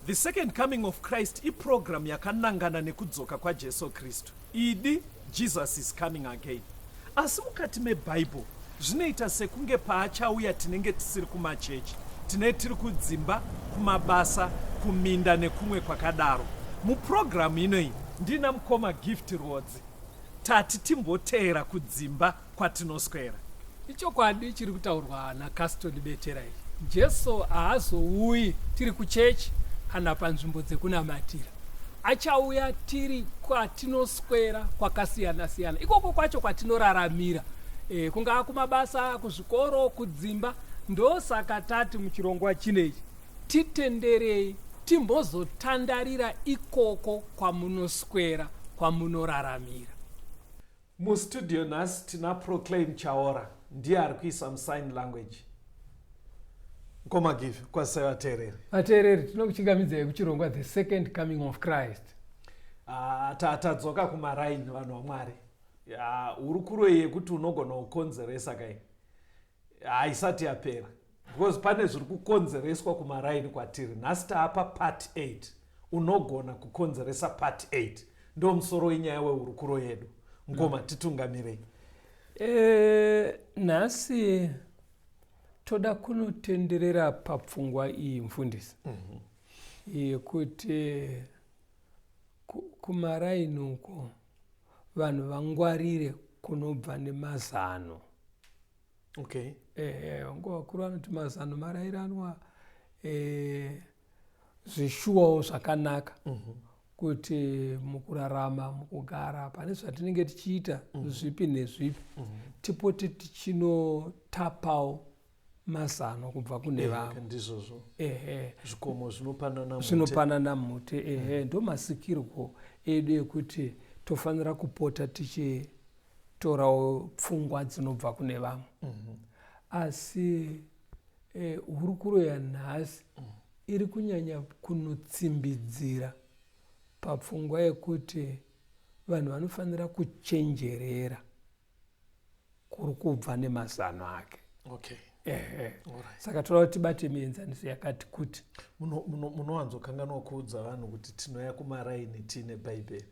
The Second Coming of Christ iprogramu yakanangana nekudzoka kwaJesu Kristu, idi Jesus is coming again. Asi mukati meBhaibheri zvinoita sekunge paachauya tinenge tisiri kumachechi, tine tiri kudzimba, kumabasa, kuminda nekumwe kwakadaro. Muprogramu inoyi ndina mukoma Gift Rwodzi tati timboteera kudzimba kwatinoswera. Ichokwadi chiri kutaurwa naCaston Betera ichi. Jesu haazouyi tiri kuchechi kana panzvimbo dzekunamatira. Achauya tiri kwatinoswera kwakasiyana siyana. Ikoko kwacho kwatinoraramira. E, kungaa kumabasa, kuzvikoro, kudzimba. Ndosaka tati muchirongwa chinechi titenderei timbozotandarira ikoko kwamunoswera kwamunoraramira. Mustudio nhasi tina Proclaim Chaora ndiye ari kuisa musign language. Mkoma Give, kwazisai vateereri. Vateereri, tinokuchingamidzai kuchirongwa The Second Coming of Christ. Ah, tatadzoka kumaraini vanhu vaMwari. Hurukuro yekuti unogona kukonzeresa kai. haisati yapera because pane zviri kukonzereswa kumaraini kwatiri nhasi taapa part 8 unogona kukonzeresa part 8 ndo musoro wenyaya wehurukuro yedu mkoma mm. titungamirei e, nhasi toda kunotenderera papfungwa iyi mfundisi mm -hmm. yekuti kumaraini uko vanhu vangwarire kunobva nemazano okay. ehe ngo vakuru vanoti mazano marairanwa eh, zvishuwawo zvakanaka mm -hmm. kuti mukurarama mukugara pane zvatinenge tichiita mm -hmm. zvipi nezvipi mm -hmm. tipote tichinotapawo mazano kubva kune eh, vamwe ndizvozvo ehe zvikomo zvinopanana zvinopanana mute ehe mm. ndomasikirwo edu ekuti tofanira kupota tichitorawo pfungwa dzinobva kune vamwe mm -hmm. asi eh, hurukuro yanhasi mm. iri kunyanya kunotsimbidzira papfungwa yekuti vanhu vanofanira kuchenjerera kuri kubva nemazano ake okay. Ehe. saka toda kuti tibate mienzaniso yakati kuti munowanzokanganwa muno, muno kuudza vanhu kuti tinouya kumaraini tiine bhaibheri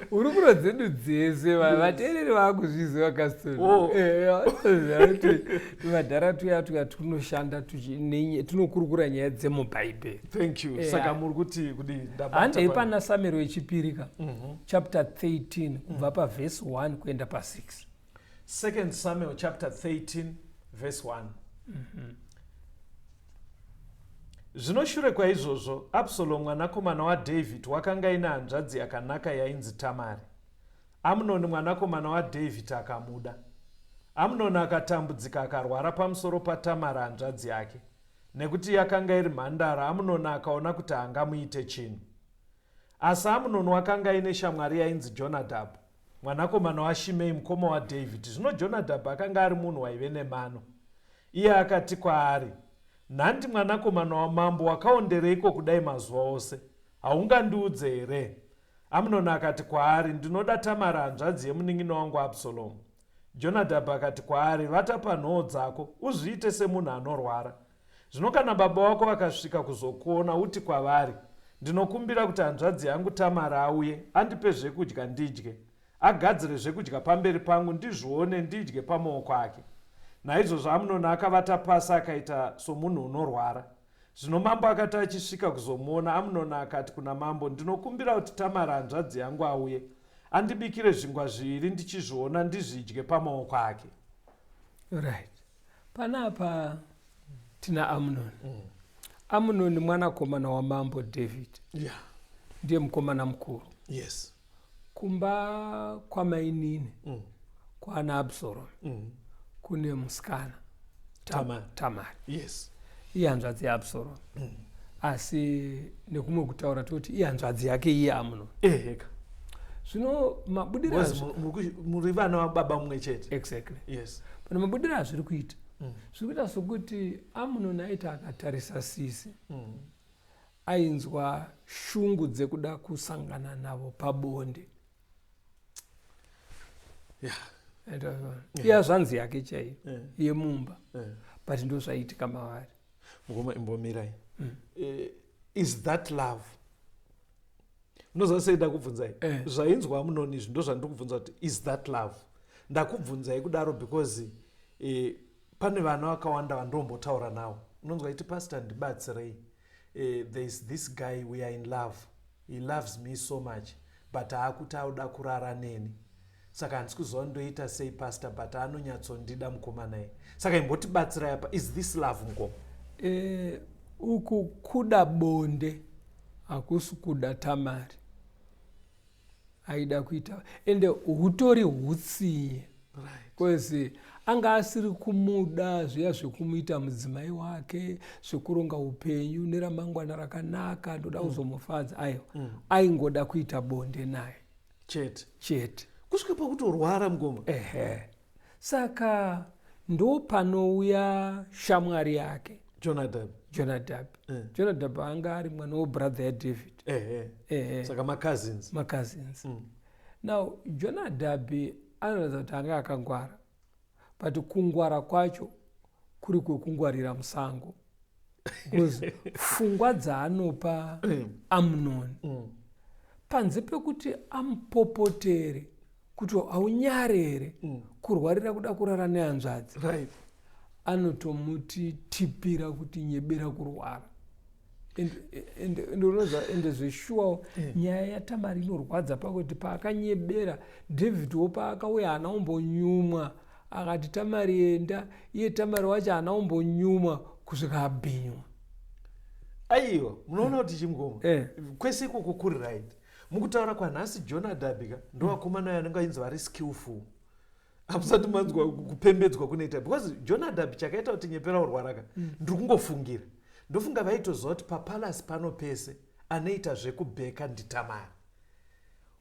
hurukuro dzedu dzese vanhu vateereri vakuzviziva kasitoakuti oh. madhara tuya tuya tunoshanda tinokurukura nyaya dzemubhaibheri saka muri kuti kudii handei pana samero wechipiri ka mhm. chapter 13 kubva mm. pavhesi 1 kuenda pa6 second samuel chapter 13 vhesi 1 mm -hmm. zvino shure kwaizvozvo absalomu mwanakomana wadavid wakanga ine hanzvadzi yakanaka yainzi tamari amunoni mwanakomana wadavid akamuda amunoni akatambudzika akarwara pamusoro patamari hanzvadzi yake nekuti yakanga iri mhandara amunoni akaona kuti haangamuite chinhu Asi Amunoni wakanga aine shamwari yainzi Jonadhabhu, mwanakomana waShimei mukoma waDhavhidhi. Zvino Jonadhabhu akanga ari munhu waive nemano. Iye akati kwaari, Nhandi mwanakomana wamambo, wakaondereiko kudai mazuva ose? Haungandiudze here? Amunoni akati kwaari, Ndinoda Tamari hanzvadzi yemunin'ina wangu Absalomu. Jonadhabhu akati kwaari, Vata panhoo dzako, uzviite semunhu anorwara, Zvino kana baba wako vakasvika kuzokuona, uti kwavari, Ndinokumbira kuti hanzvadzi yangu Tamari auye, andipe zvekudya ndidye, agadzire zvekudya pamberi pangu, ndizvione, ndidye pamaoko ake. Naizvozvo Amunoni akavata pasi akaita somunhu unorwara. Zvino mambo akati achisvika kuzomuona, Amunoni akati kuna mambo, Ndinokumbira kuti Tamari hanzvadzi yangu auye, andibikire zvingwa zviviri ndichizviona, ndizvidye pamaoko ake. Right. Panapa tina Amnon. Mm. Amnon mwanakomana wamambo David. Yeah. Ndiye mukomana mukuru. Yes. Kumba kwamainini. Mm. Kwana Absalom. Mm. Kune musikana. Tamar. Tamar. Yes. Ihanzvadzi yaAbsalom. asi nekumwe kutaura toti ihanzvadzi yake iye amuno eheka zvino mabudiro muri vana vababa mumwe chete exactly yes pana mabudiro azviri kuita mm. zviri kuita sokuti amuno naita akatarisa sisi mm. ainzwa shungu dzekuda kusangana navo pabonde yeah. yeah. iya zvanzi yake chaiyo yeah. yemumba yeah. but ndozvaitika mavari mukoma imbomirai mm. uh, is that love unoziva sei ndakubvunzai eh. zvainzwa munoni izvi ndozvandiri kubvunza kuti is that love ndakubvunzai kudaro because uh, pane vana vakawanda vandombotaura nawo unonzwa iti pastor ndibatsirei uh, there is this guy we are in love He loves me so much but aakuti auda kurara neni saka handisi kuziva kuti ndoita sei pastor but anonyatsondida mukomana iyi saka imbotibatsirai apa is this love mukoma eh, uku kuda bonde hakusi kuda tamari aida kuita ende hutori hutsinye bcause anga asiri kumuda zviya zvekumuita mudzimai wake zvekuronga upenyu neramangwana rakanaka ndoda mm. kuzomufadza aiwa mm. aingoda kuita bonde naye chete chete kusvika pakutorwara mgoma ehe Saka ndopanouya shamwari yake Jonadab. Jonadab. Eh. Jonadab anga ari mwana webrother yaDavid. Eh, eh. Eh, eh. Saka macousins. Macousins. Mm. Now Jonadab anoratidza kuti anga akangwara but kungwara kwacho kuri kwekungwarira musango. bcause fungwa dzaanopa mm. amunoni mm. panze pekuti amupopotere kuti haunyare here mm. kurwarira kuda kurara nehanzvadzi right. anotomuti tipira kuti nyebera kurwara ndinoza ende zveshuwa eh. nyaya yatamari inorwadza pakuti paakanyebera david wo paakauya haana umbonyumwa akati tamari enda iye tamari wacho haana kumbonyumwa kusvika abhinywa aiwa munoona kuti chimgoma eh. kwese ikoko kuri right mukutaura kwanhasi john adabika ndovakomana ayo anenge ainzi vari skillful hamusati manzwa kupembedzwa kunoita because john adabi chakaita kuti nyepera urwaraka mm. ndiri kungofungira ndofunga vaitoziva kuti papalasi pano pese anoita zvekubheka nditamari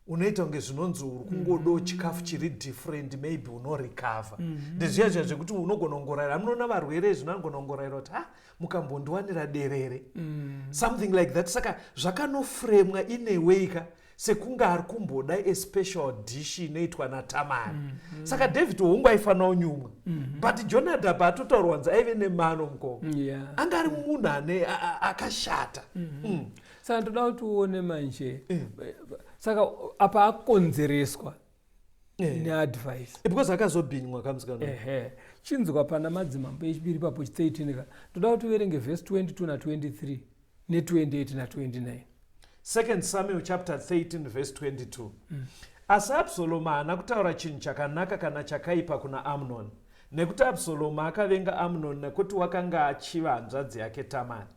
unoita kunge zvinonzi uri kungodo mm. chikafu chiri different maybe unorecover mm -hmm. ndezviya zviya zvekuti unogona kungorayira amunoona varwere izvi unogona kungorayira kuti ha mukambondiwanira derere mm. something like that saka zvakanofremwa ineweyka sekunge ari kumboda especial dish inoitwa natamari mm -hmm. saka david hongu aifanira unyumwa mm -hmm. but jonadab atotaurwanzi aive nemano mukoko yeah. anga ari munhu ane akashata mm -hmm. mm. saka ndoda kuti uone manje eh. saka apa akonzereswa eh. neadvice eh, because akazobhinywa kamusikana chinzwa pana madzimambo echipiri papo chitsaitinika ndoda kuti uverenge vhesi 22 na 23 ne28 na 29 2 samuel chapter 13 vhesi 22 mm. asi absalomu haana kutaura chinhu chakanaka kana chakaipa kuna amnoni Nekuti Absalomu akavenga Amnoni nekuti wakanga achiva hanzvadzi yake Tamari.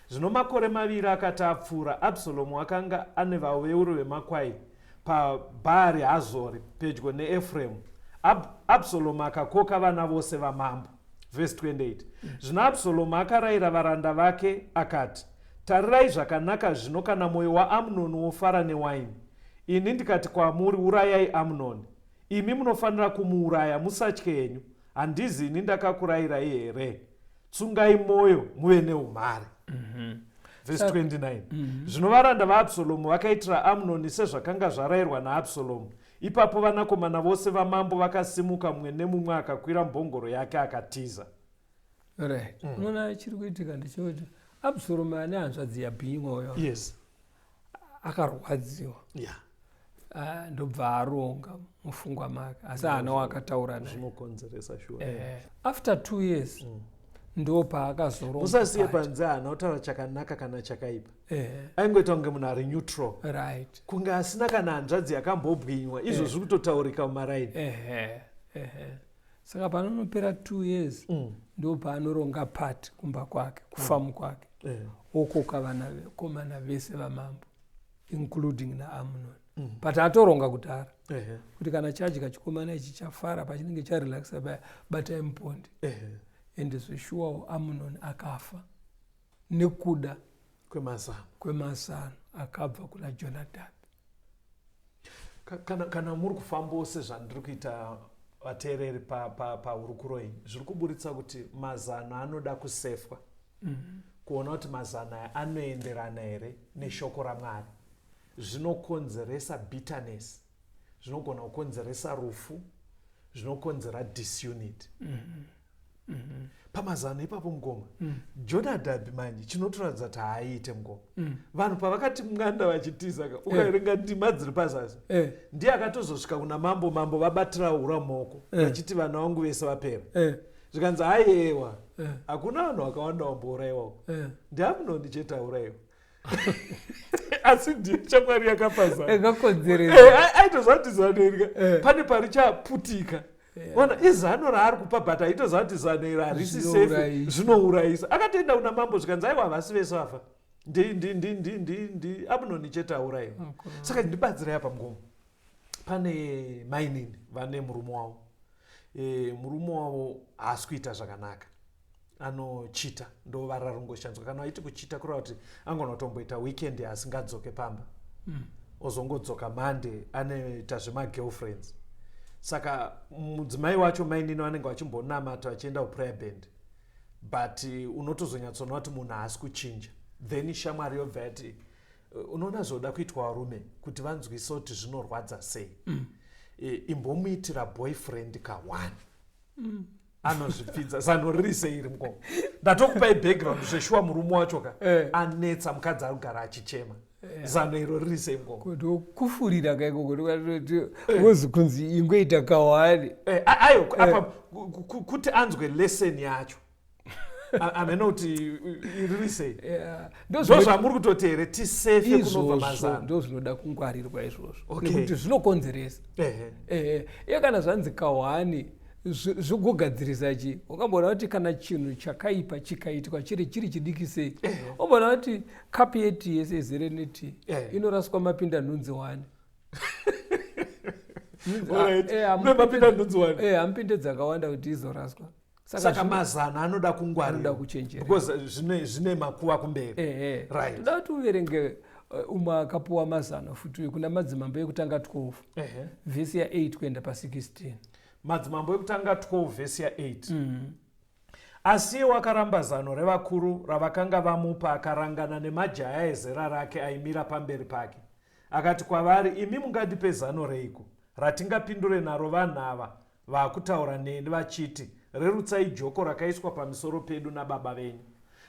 Zvino makore maviri akati apfuura, Absalomu akanga ane vaveuri vemakwai paBhaari Hazori, pedyo neEfremu. Ab, Absalomu akakoka vana vose vamambo. Vhesi 28. Zvino Absalomu akarayira varanda vake akati, Tarirai zvakanaka zvino kana mwoyo waAmnoni wofara newaini, ini ndikati kwamuri, Urayai Amnoni. Imi munofanira kumuuraya musatye henyu handizi ini ndakakurayirai here tsungai mwoyo muve neumhare mm -hmm. vese 29 mm -hmm. zvino varanda vaabsalomu vakaitira amnoni sezvakanga zvarayirwa naabsalomu ipapo vanakomana vose vamambo vakasimuka mumwe nemumwe akakwira mbongoro yake akatiza right mm. unoona mm. chiri kuitika ndechekuti absalomu ane hanzvadzi yabhinyi mwoyo yes akarwadziwa yeah. Ah, ndobva aronga mufungwa make asi haana wakataura zvinokonzeresa shuwa eh, eh, after two years mm. ndo paakazoronga usasiye panze haana kutaura chakanaka kana chakaipa eh. aingoita kunge munhu ari neutral right kunge asina kana hanzvadzi yakambobwinywa izvo eh. zviri kutotaurika mumaraini eh. eh. eh. saka panonopera two years mm. ndo paanoronga pat kumba kwake kufamu mm. kwake mm. yeah. okoka vanakomana vese vamambo including naamunon mm. but atoronga kudhara yeah. kuti kana chadya chikomana ichi chafara pachinenge charelaxa baya batai mupondi yeah. ende zveshuwawo amunon akafa nekuda kwemazano kwemazano akabva kuna jonadhabhi kana, kana muri kufambawo sezvandiri kuita vateereri pahurukuro pa, pa iyi zviri kuburitsa kuti mazano anoda kusefwa mm -hmm. kuona kuti mazano aya anoenderana here neshoko ramwari zvinokonzeresa bitterness zvinogona kukonzeresa rufu zvinokonzera disunity mm -hmm. Mm -hmm. pamazano ipapo mukoma mm. jonadhabhi manje chinotoratidza kuti haaite mukoma mm. vanhu pavakati mwanda vachitiza ka eh. ukaverenga hey. ndima dziri pazasi hey. Eh. ndiye akatozosvika kuna mambo mambo vabatira hura moko eh. vachiti hey. vana vangu vese vapera hey. zvikanzi haiyewa hakuna hey. vanhu vakawanda wambourayiwako hey. ndiamunoni chete aurayiwa asi ndiyo chakwari yakapazaaaitozatizanoirika eh, eh. pane pari chaputika ona izano raari kupa but aitoziva kuti zano iro harisi safe zvinourayisa akatoenda kuna mambo zvikanzi aiwa havasi vese vafa ndi abnoni chete aurayiwa saka ndibatsirai apa mugomo pane mainini vane murume wavo e, murume wavo haasi kuita zvakanaka anochita ndovara rungoshanzwa kana aiti kuchita kureva kuti angona kutomboita weekend asingadzoke pamba mm. ozongodzoka monday anoita zvemagirlfriends saka mudzimai wacho mainini vanenge vachimbonamata vachienda kuprayer band but uh, unotozonyatsoona kuti munhu haasi kuchinja then shamwari yobva yati uh, unoona zvoda kuitwa varume kuti vanzwise kuti zvinorwadza sei mm. imbomuitira boyfriend kaone mm. anozvipfidza zano riri seiri mukoma ndatokupai background zveshuwa murume wacho ka eh. anetsa mukadzi ari kugara achichema eh. zano iro riri sei mukoma kuti kufurira kaikoko tikatoti eh. wozi kunzi ingoita kawani ayo apa kuti anzwe lesson yacho amene kuti riri sei ndozvamuri kutoti here tisefe kunobva mazano ndo zvinoda kungwarirwa izvozvo nekuti zvinokonzeresa ehe ehe iye kana zvanzi kawani zvokugadzirisa chii ungamboona kuti kana chinhu chakaipa chikaitwa chiri chiri chidiki sei umboona eh. kuti kapi yeti yese izere neti eh. inoraswa mapinda nhunzi wani hamupinde eh, dzakawanda kuti izoraswa saka mazana anoda kungwarira kuchenjera zvine makuva kumberi toda kuti uverenge Eh, umwe akapuwa mazano futi uyo kuna madzimambo ekutanga 12 vhesi ya8 kuenda pa16 Madzimambo ekutanga 12 vhesi ya 8 mm -hmm. Asi iwo akaramba zano revakuru ravakanga vamupa, akarangana nemajaya ezera rake aimira pamberi pake. Akati kwavari, imi mungandipe zano reiko ratingapindure naro vanhu ava vakutaura neni vachiti, rerutsai joko rakaiswa pamisoro pedu nababa venyu.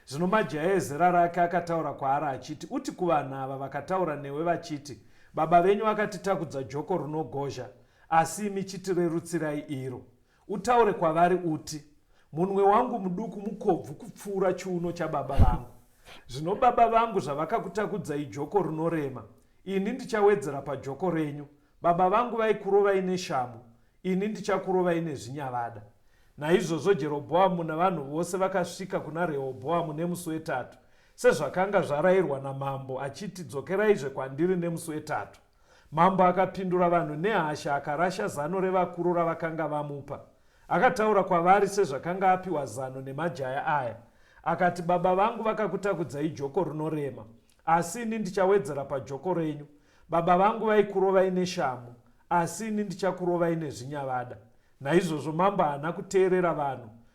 Zvino majaya ezera rake akataura kwaari achiti, uti kuvanhu ava vakataura newe vachiti, baba venyu vakatitakudza joko runogozha, Asi imi chitirerutsirai iro, utaure kwavari uti, Munwe wangu muduku mukobvu kupfuura chiuno chababa vangu. Zvino baba vangu zvavakakutakudzai joko rinorema, ini ndichawedzera pajoko renyu. Baba vangu vaikurovai neshamhu, ini ndichakurovai nezvinyavada. Naizvozvo Jerobhoamu navanhu vose vakasvika kuna Rehobhoamu nemusi wetatu, sezvakanga zvarayirwa namambo, achiti, Dzokeraizve kwandiri nemusi wetatu. Mambo akapindura vanhu nehasha akarasha zano revakuru ravakanga vamupa. Akataura kwavari sezvakanga apiwa zano nemajaya aya. Akati, Baba vangu vakakutakudzai joko rinorema, asi ini ndichawedzera pajoko renyu. Baba vangu vaikurovai neshamhu, asi ini ndichakurovai nezvinyavada. Naizvozvo mambo haana kuteerera vanhu,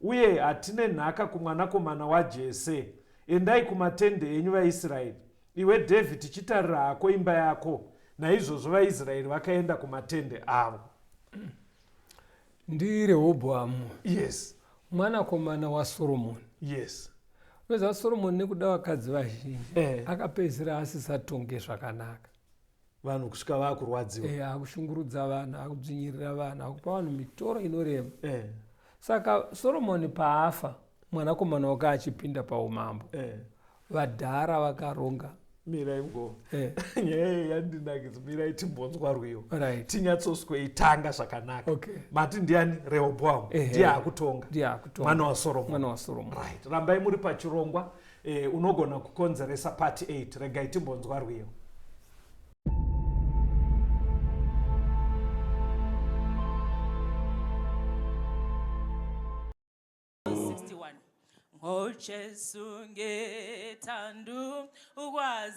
Uye hatine nhaka kumwanakomana waJese. Endai kumatendhe enyu vaIsraeri. Iwe Dhavhidhi chitarira hako imba yako. Naizvozvo vaIsraeri vakaenda kumatendhe avo. NdiRehobhoamu. Yes. Mwanakomana waSoromoni. Yes. Unoziva Soromoni nekuda vakadzi vazhinji eh. akapedzisira asisatonge zvakanaka. vanhu kusvika vakurwadziwa eh, akushungurudza vanhu akudzvinyirira vanhu akupa vanhu mitoro inorema eh. saka soromoni paafa mwanakomana wake achipinda paumambo eh. vadhara vakaronga mirai ngo eh. nyaya iyi yandinakidza mirai timbonzwa rwiyo right. tinyatsoswe itanga zvakanaka okay. mati ndiani rehoboamu ndiye akutonga mwana wasoromoni right. rambai muri pachirongwa Eh, unogona kukonzeresa part 8 regai timbonzwa rwiyo Oh, Jesu ngetandu ukwazi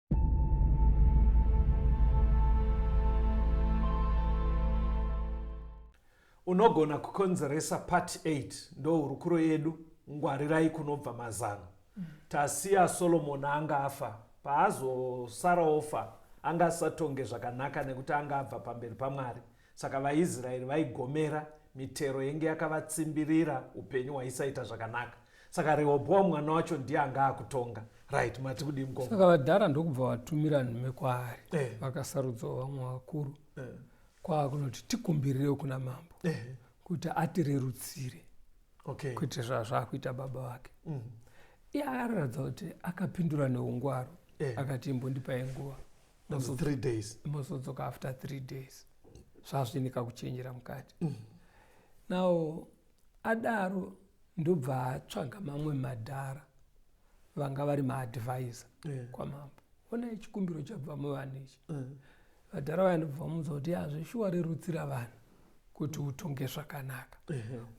unogona kukonzeresa part 8 ndohurukuro yedu ngwarirai kunobva mazano tasiya solomoni anga afa paazosara ofa anga asatonge zvakanaka nekuti anga abva pamberi pamwari Saka vaIsraeri vaigomera, mitero yenge yakavatsimbirira, upenyu hwaisaita zvakanaka. Saka Rehobhoamu mwana wacho ndiye anga akutonga. Right, mati kudii mukoma? Saka vadhara ndokubva vatumira nhume kwaari, eh. vakasarudzawo vamwe vakuru eh. kwaakunoti tikumbirirewo kuna mambo eh. kuti atirerutsire okay. kuti zvazvaakuita baba vake mm. iye akaratidza kuti akapindura neungwaro eh. akati imbondipai nguva mozodzoka after three days zvazvinika kuchenjera mukati mm. now adaro ndobva atsvaga mamwe madhara vanga vari maadvisor yeah. kwamambo ona chikumbiro chabva muvana ichi yeah. vadhara vaya ndobva vamuudza kuti hazvishuwa rerutsira vanhu kuti utonge zvakanaka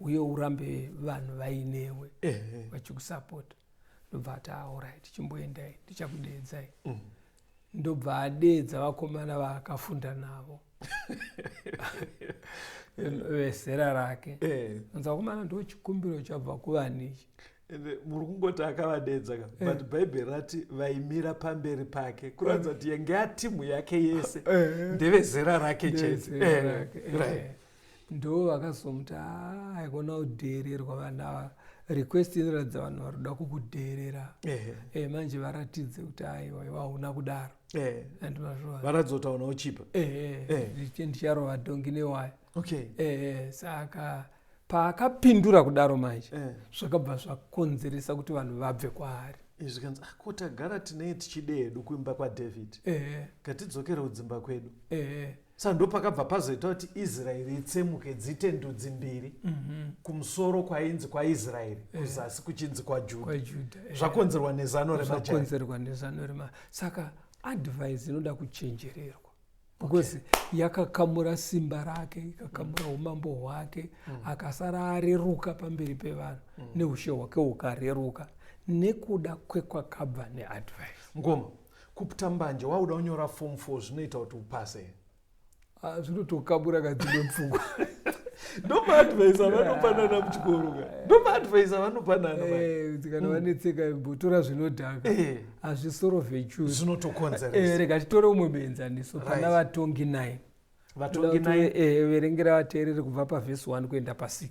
uye urambe vanhu vainewe vachikusapota ndobva ati aorit ah, chimboendai ndichakudeedzai mm. ndobva adeedza vakomana vaakafunda navo vezera rake eh. anzi vakomana ndo chikumbiro chabva kuvani ichi ende muri kungoti akavadeedza ka eh. but bhaibheri rati vaimira pamberi pake kuratidza kuti yenge atimu yake yese eh. ndevezera rake chete ndo vakazomuti haa haikona kudheererwa vana ava request inoratidza vanhu vari kuda kukudheerera Ehe. e, manje varatidze kuti aiwa iwa hauna kudaro Eh, and mazvova varatidza kuti hauna uchipa Eh. ehe ndicharova dhongi newaya okay Eh, saka paakapindura kudaro manje Eh. zvakabva zvakonzeresa kuti vanhu vabve kwaari izvi zvikanzi "Ah, ko tagara tinei tichide hedu kuimba kwadavid Eh, ngatidzokere kudzimba kwedu eh, Saka ndopakabva pazoita kuti Israeri itsemuke dziite ndudzi mbiri mm -hmm. kumusoro kwainzi kwaIsraeri eh. kuzasi eh. kuchinzi kwaJudha kwa eh. zvakonzerwa nezano remakonzerwa nezano rema saka advise inoda kuchenjererwa because okay. yakakamura simba rake ikakamura mm. umambo hwake mm. akasara areruka pamberi pevanhu mm. neushe hwake hukareruka nekuda kwekwakabva neadvise ngoma Kupta mbanje wakuda kunyora form four zvinoita kuti upase ah, zvinotokabura kadzimwe pfungwa ndomaadvisa vanopanana muchikoro ka eh. ndomaadvisa vanopanana eh, kana mm. vanetseka mbotora zvinodhaka eh. hazvisoro vechu zvinotokonzeresa rega titore umwe muenzaniso pana vatongi 9 vatongi 9 verengera vateereri kubva pavhesi 1 kuenda pa6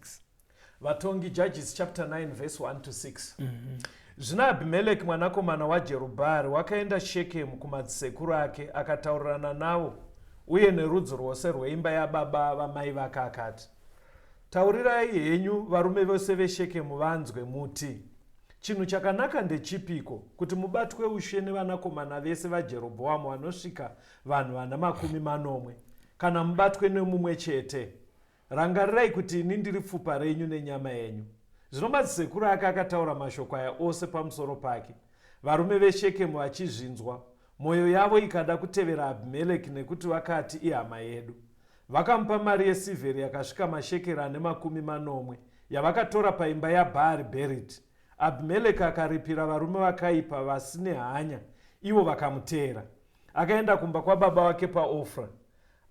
Vatongi, Judges chapter 9 verse 1 to 6. Zvino Abhimeleki mwanakomana waJerubhaari wakaenda Shekemu kumadzisekuru ake, akataurirana navo uye nerudzi rwose rweimba yababa vamai vake akati, Taurirai henyu varume vose veShekemu vanzwe, muti, Chinhu chakanaka ndechipiko, kuti mubatwe ushe nevanakomana vese vaJerobhoamu vanosvika vanhu vana makumi manomwe, kana mubatwe nemumwe chete? Rangarirai kuti ini ndiri pfupa renyu nenyama yenyu. Zvino madzisekuru ake akataura mashoko aya ose pamusoro pake, varume veShekemu vachizvinzwa, mwoyo yavo ikada kutevera Abhimereki nekuti vakati, Ihama yedu. Vakamupa mari yesirvheri yakasvika mashekeri ane makumi manomwe, yavakatora paimba yaBhaari Bheriti. Abhimereki akaripira varume vakaipa vasine hanya, ivo vakamuteera. Akaenda kumba kwababa wake paOfra.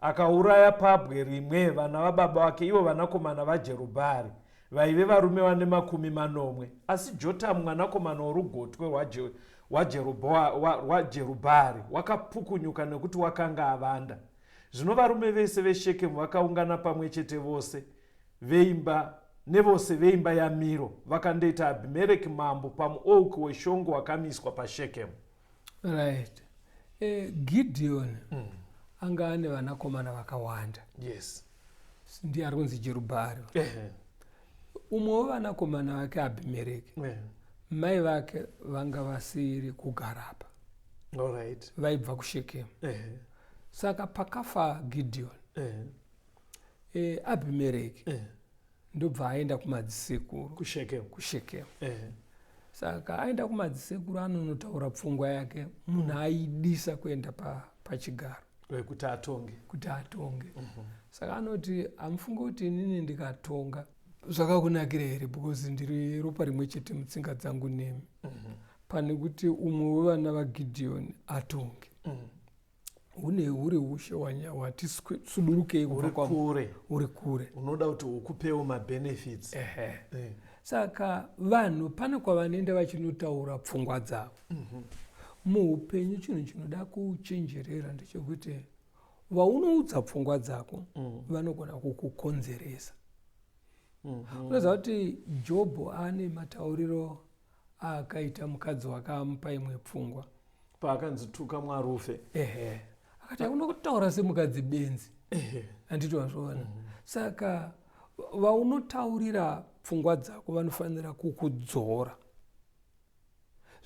Akauraya pabwe rimwe vana vababa vake, ivo vanakomana vaJerubhaari, vaive varume vane makumi manomwe. Asi Jotamu mwanakomana worugotwe rwaJerubhaari wakapukunyuka nekuti wakanga avanda. Zvino varume vese veShekemu vakaungana pamwe chete vose veimba nevose veimba yaMiro vakandoita Abhimereki mambo pamuouki weshongo wakamiswa paShekemu. right eh, gideon mm. anga ane vanakomana vakawanda yes ndiye ari kunzi jerubhari umwe wevanakomana vake abhimereki mai vake vanga vasiri kugarapa right. vaibva kushekemu saka pakafa gideon eh, abhimereki ndobva aenda kumadzisekuru kushekemu kushekemu eh. saka aenda kumadzisekuru anonotaura pfungwa yake munhu aidisa kuenda pachigaro pa kuti atonge kuti atonge mm -hmm. saka anoti amufunge kuti inini ndikatonga zvakakunakira here because ndiri ropa rimwe chete mutsinga dzangu nemi mm -hmm. pane kuti umwe wevana vagidhiyoni atonge mm -hmm. hune huri ushe hwati sudurukei uri kure uri kure unoda kuti ukupewo mabenefits ehe eh. saka vanhu pane kwavanoenda vachinotaura pfungwa dzavo mhm. muupenyu chinhu chinoda kuchenjerera ndechekuti vaunoudza pfungwa dzako mm. vanogona kukukonzeresa mhm. unoziva kuti jobho ane matauriro akaita mukadzi wake amupa imwe pfungwa paakanzi tuka mwarufe ehe akati hauna kutaura semukadzi benzi handiti wazviona mm. saka vaunotaurira pfungwa dzako vanofanira kukudzora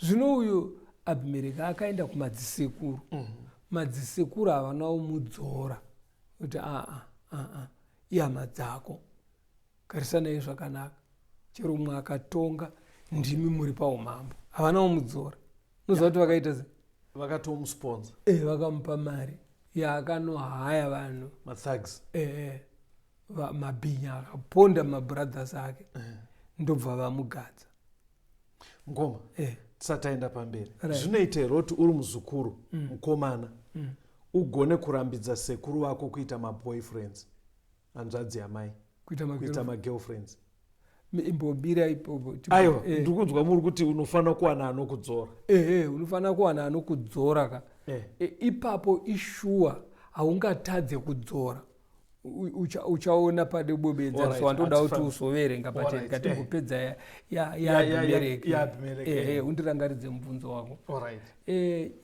zvino uyu abhimereki akaenda kumadzisekuru mm. madzisekuru havana umudzora kuti aa aa ihama dzako Garisanai zvakanaka. Chero umwe akatonga ndimi muri paumambo. Havana wamudzora. Muziva kuti vakaita sei? Vakatomusponza. Eh, vakamupa mari yaakanohaya vanhu. Mathags. Eh, eh. Mabhinya akaponda mabrothers ake. Eh. Ndobva vamugadza. Mkoma. Eh. Tisataenda pamberi. Right. Zvinoita here kuti uri muzukuru, mm. mkomana. Mm. Ugone kurambidza sekuru vako kuita maboyfriends. hanzvadzi yamai kuita magirlfriends. magirlfriends imbobira ipopo aiwa Eh, ndikudzwa muri kuti unofanira kuwana anokudzora eh, eh, unofanira kuwana anokudzora ka Eh. Eh, ipapo ishuwa haungatadze kudzora U- ucha- uchaona pade bobedza Alright, so wandoda kuti hatifaniri. uzoverenga Alright, pacheni eh. katimbopedza ya- ya- Ya- ya- ya- yaabhimereki ya Abimeleki, eh. undirangaridze mubvunzo wako Alright. Eh,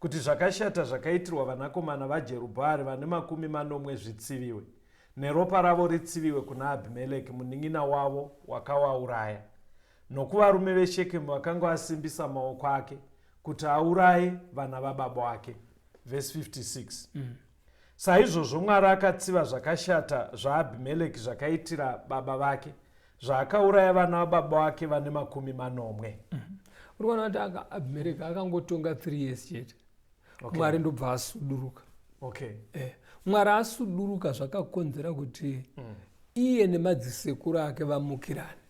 kuti zvakashata zvakaitirwa vanakomana vaJerubhaari vane makumi manomwe zvitsiviwe, neropa ravo ritsiviwe kuna Abhimereki munin'ina wavo wakawauraya, nokuvarume veShekemu vakanga vasimbisa maoko ake kuti auraye vana vababa wake. Vhesi 56. Mm. Saizvozvo Mwari akatsiva zvakashata zvaAbhimeleki zvakaitira baba vake, zvaakauraya vana vababa vake vane makumi manomwe. Mm-hmm. Uri kuona kuti Abhimeleki akangotonga 3 years chete, Mwari ndobva asuduruka. Okay. Eh, Mwari asuduruka zvakakonzera kuti mm. iye nemadzisekuru ake vamukirane.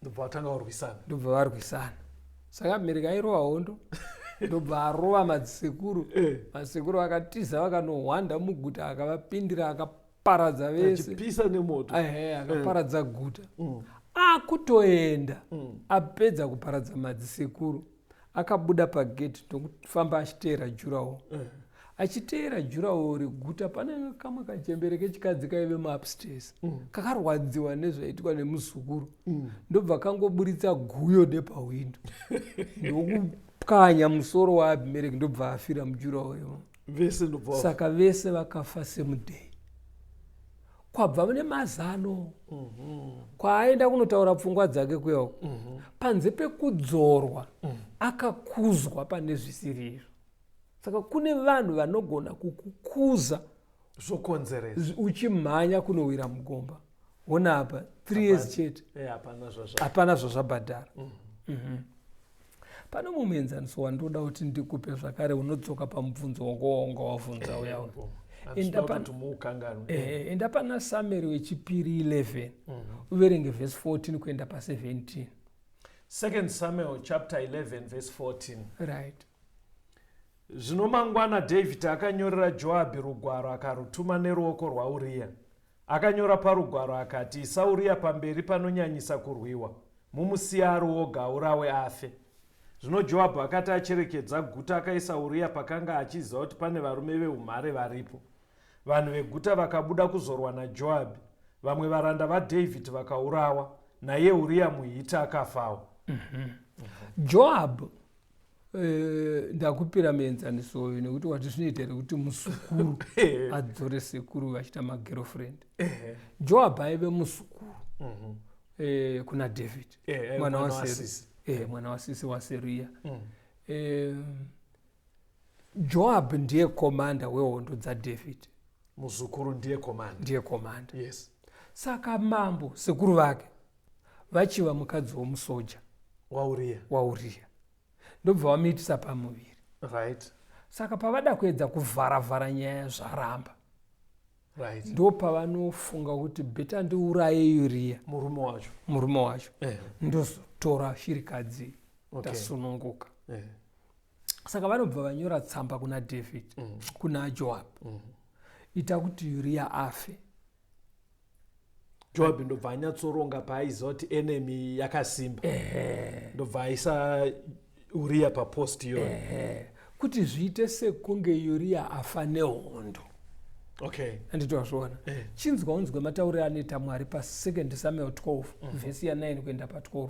ndobva vatanga varwisana ndobva varwisana saka abimereki airova hondo ndobva arova madzisekuru eh. madzisekuru vakatiza vakanohwanda muguta akavapindira akaparadza vesepisa nemoto ehe akaparadza eh. guta mm. akutoenda mm. apedza kuparadza madzisekuru akabuda pagedhi ndokufamba achiteera jurawo eh. achiteera jurawo reguta pane kamwe kachembere kechikadzi kaive muupstairs mm. kakarwadziwa nezvaiitwa nemuzukuru mm. ndobva kangoburitsa guyo nepahwindo ndokupwanya musoro waabimereki ndobva afira mujurawo imo vese ndobva saka vese vakafa same day kwabva mune mazano kwaaenda kunotaura pfungwa dzake kuya uko panze pekudzorwa akakuzwa pane zvisiri izvo saka kune vanhu vanogona kukukuza zvokonzeresa uchimhanya kunowira mugomba ona apa th years chete eh, hapana zvazvabhadhara mm. mhm. pane mumwe muenzaniso wandoda kuti ndikupe zvakare unodzoka pamubvunzo wanga wanga wavhunza uya enda pana sameri wechipiri 11 mhm. uverenge vhesi 14 kuenda pa 17 2 samuel chapter 11 vhesi 14 right zvino mangwana dhavhidhi akanyorera joabhi rugwaro akarutuma neruoko rwauriya Akanyora parugwaro akati, Isa Uria pamberi panonyanyisa kurwiwa, mumusiya ari woga, aurawe afe. Zvino Joabhu akati acherekedza guta, akaisa Uria pakanga achiziva kuti pane varume veumhare varipo. Vanhu veguta vakabuda kuzorwa naJoabhi. Vamwe varanda vaDhavhidhi vakaurawa, naiye Uria muHiti akafawo. Mhm. Joabhu Eh, ndakupira mienzaniso uyu nekuti wati zvinoita here kuti musukuru eh. adzore sekuru vachita magirlfriend eh. joab aive musukuru mhm. kuna david mwana wasisi mwana wasisi waseriya mm. joab ndiye komanda wehondo dzadavid muzukuru ndiye komanda ndiye komanda yes saka mambo sekuru vake vachiva mukadzi womusoja wauriya wauriya ndobva vamuitisa pamuviri right saka pavada kuedza kuvhara vhara nyaya zvaramba right ndo pavanofunga kuti beta ndiuraye uriya murume wacho murume wacho eh. ndozotora shirikadzi okay. tasununguka eh. saka vanobva vanyora tsamba kuna david mm. kuna joab mm. ita kuti uriya afe joabhi ndobva anyatsoronga paaiziva kuti enemy yakasimba ndobva aisa uriya papost iyoyo kuti zviite sekunge uriya afa nehondo okay anditozviona eh. chinzwa unzwe matauriro anoita mwari pasecond samuel 12 mm -hmm. vhesi ya9 kuenda pa12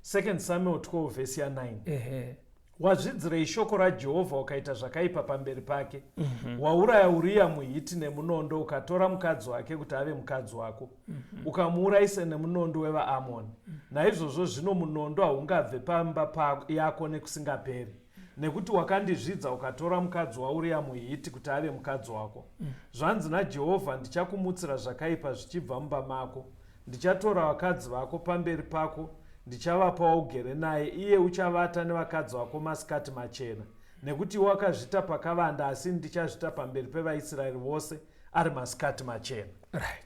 second samuel 12 vhesi ya9 ehe Wazvidzirei shoko raJehovha ukaita zvakaipa pamberi pake? mm -hmm. Wauraya Uriya muHiti nemunondo, ukatora mukadzi wake kuti ave mukadzi wako, mm -hmm. ukamuurayisa nemunondo wevaAmoni. mm -hmm. Naizvozvo zvino munondo haungabve pamba pa yako nekusingaperi, nekuti wakandizvidza ukatora mukadzi waUriya muHiti kuti ave mukadzi wako. mm -hmm. Zvanzi naJehovha, Ndichakumutsira zvakaipa zvichibva mumba mako Ndichatora vakadzi vako pamberi pako, ndichavapa waugere naye, iye uchavata nevakadzi vako masikati machena, nekuti iwe wakazvita pakavanda, asi ini ndichazvita pamberi pevaIsraeri vose ari masikati machena. Right.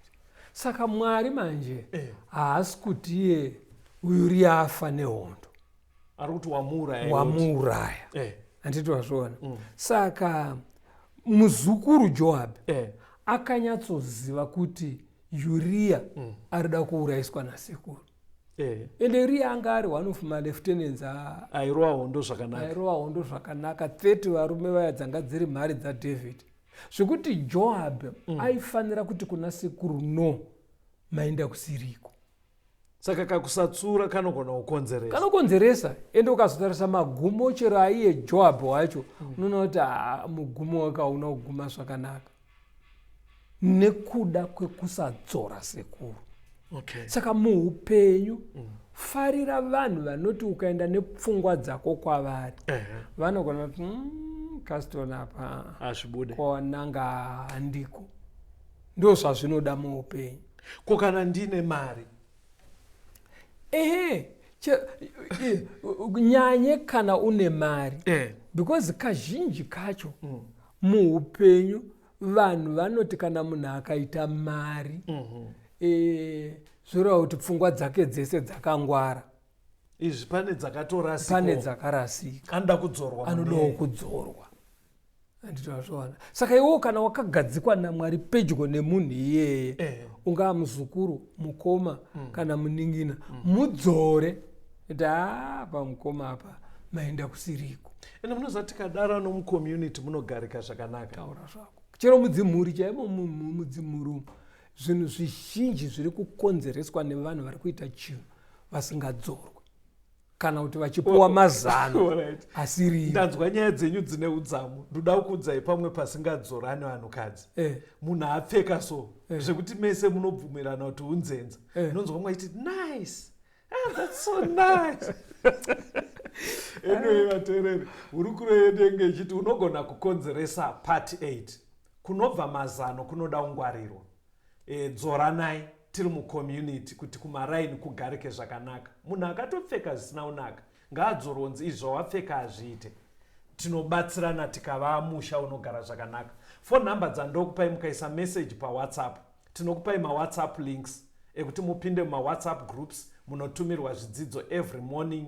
Saka Mwari manje eh. haasi eh, kuti iye uyu riafa nehondo, ari kuti wamuuraya, wamuuraya eh. handiti wazviona mm. Saka muzukuru Joabhi eh. akanyatsoziva kuti uriya mm. ari da kuuraiswa nasekuru eh. ende uriya anga ari one of maleftnants airova hondo zvakanaka airova hondo zvakanaka 30 varume vaya dzanga dziri mhari dzadavid zvekuti joab mm. aifanira kuti kuna sekuru no maenda kusiriko saka kakusatsura kanogona kukonzeresa kanokonzeresa ende ukazotarisa magumo chero aiye joab wacho mm. unoona kuti ah, mugumo wakauna kuguma zvakanaka nekuda kwekusadzora sekuru okay. saka muupenyu mm. farira vanhu vanoti ukaenda nepfungwa dzako kwavari uh -huh. vanogona kuti mm, kasitona apa ah, kona ngahandiko ndozvazvinoda muupenyu ko kana ndine mari ehe nyanye kana une mari eh. because kazhinji kacho mm. muupenyu vanhu vanoti kana munhu akaita mari mm -hmm. e, zvoreva kuti pfungwa dzake dzese dzakangwara izvi pane dzakatorasika pane dzakarasika anoda kudzorwa anodawo kudzorwa anditoazvoona saka iwewo kana wakagadzikwa namwari pedyo nemunhu iyeye eh. ungaa muzukuru mukoma mm. kana muningina mm. mudzore kuti haa pamukoma apa maenda kusiriko ende munoziva tikadara nomucommunity munogarika zvakanaka taura zvako chero mudzimhuri chaimo mudzimhuri umu zvinhu zvizhinji zviri kukonzereswa nevanhu vari kuita chinhu vasingadzorwe kana kuti vachipuwa mazano asiri ndanzwa nyaya dzenyu dzine udzamu ndoda kukuudzai pamwe pasingadzorani vanhukadzi eh. munhu apfeka so eh. zvekuti mese munobvumirana kuti unzenza eh. nonzwa mwe achiti nice ah, that's so nice anyway vateereri hurukuro yedu yenge ichiti unogona kukonzeresa part 8 kunobva mazano kunoda ungwarirwa e, dzoranai tiri mucommunity kuti kumaraini kugarike zvakanaka munhu akatopfeka zvisina unaka ngaadzoronzi izvi zvawapfeka hazviite tinobatsirana tikavaa musha unogara zvakanaka fo number dzandokupai mukaisa message pawhatsapp tinokupai mawhatsapp links ekuti mupinde mumawhatsapp groups munotumirwa zvidzidzo every morning